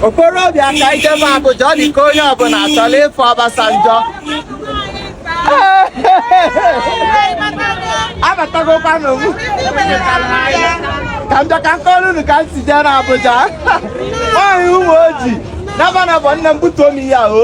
okorobịa ka ije m Abuja ọ dị ka onye ọbụla chọrọ ịfụ Obasanjo abatagokwanụ m ka m bịa ka m kọrọ unu ka m si jee n'Abuja nwaanyị Umuoji naba na bụ nne m butuo m ihe ahụ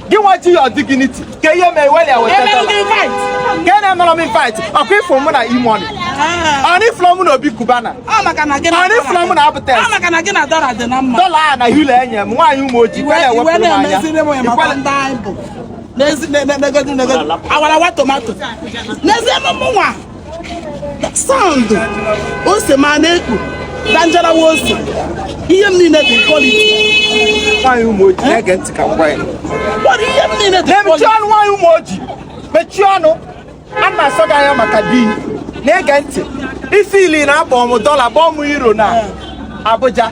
gị nwa ji ya dignity ka ihe mee weli ka a na-emere m invite ọkwa ị fụ mụ na E-Money ọnụ ị fụlụ mụ na Obi Cubana ọnụ ị fụlụ mụ na Abutex dọla a na euro enye m nwaanyị Umuoji kwere ewepụrụ m anya n'ezie m mụnwa n'ezie m mụnwa sound ose ma na-ekpu danjarawa ose ihe m niile dị quality nwaanyị Umuoji na-ege ntị ka m gwa ya But ihe m niile dị mechie quality ọnụ nwaanyị Umuoji mechie ọnụ a na-asọ gị anya maka di na-ege ntị isi ili na-abọ m dọla bọọ m euro na Abuja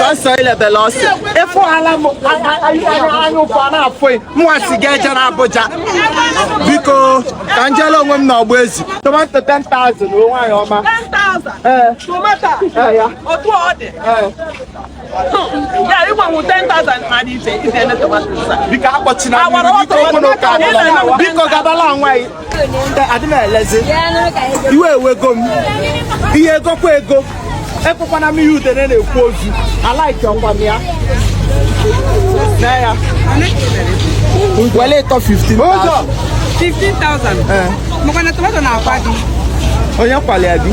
sọsọ ilebele ọ sị ị fụghala m anya ụfụ a na-afụ mụwa sị ga-eje na Abuja biko ka m jele onwe m na ọgba ezi tomato 10,000 nwaanyị ọma 10,000 tomato otu ọ dị ya ịgbanwe 10,000 mmadụ iche ize eme tomato sa biko akpọchina Agwara mmiri, biko ọtọ okporo ụka ọtọ adịla. ọtọ biko gabala nwa anyị adị m elezi iwe ewego m ihe egokwa ego ekwekwana m ihe udene na-ekwe ozu alaike ọkwa m ya na ya wele ịtọ 15 ụzọ 15,000 maka na tomato na-akwa gị onye kwalịa gị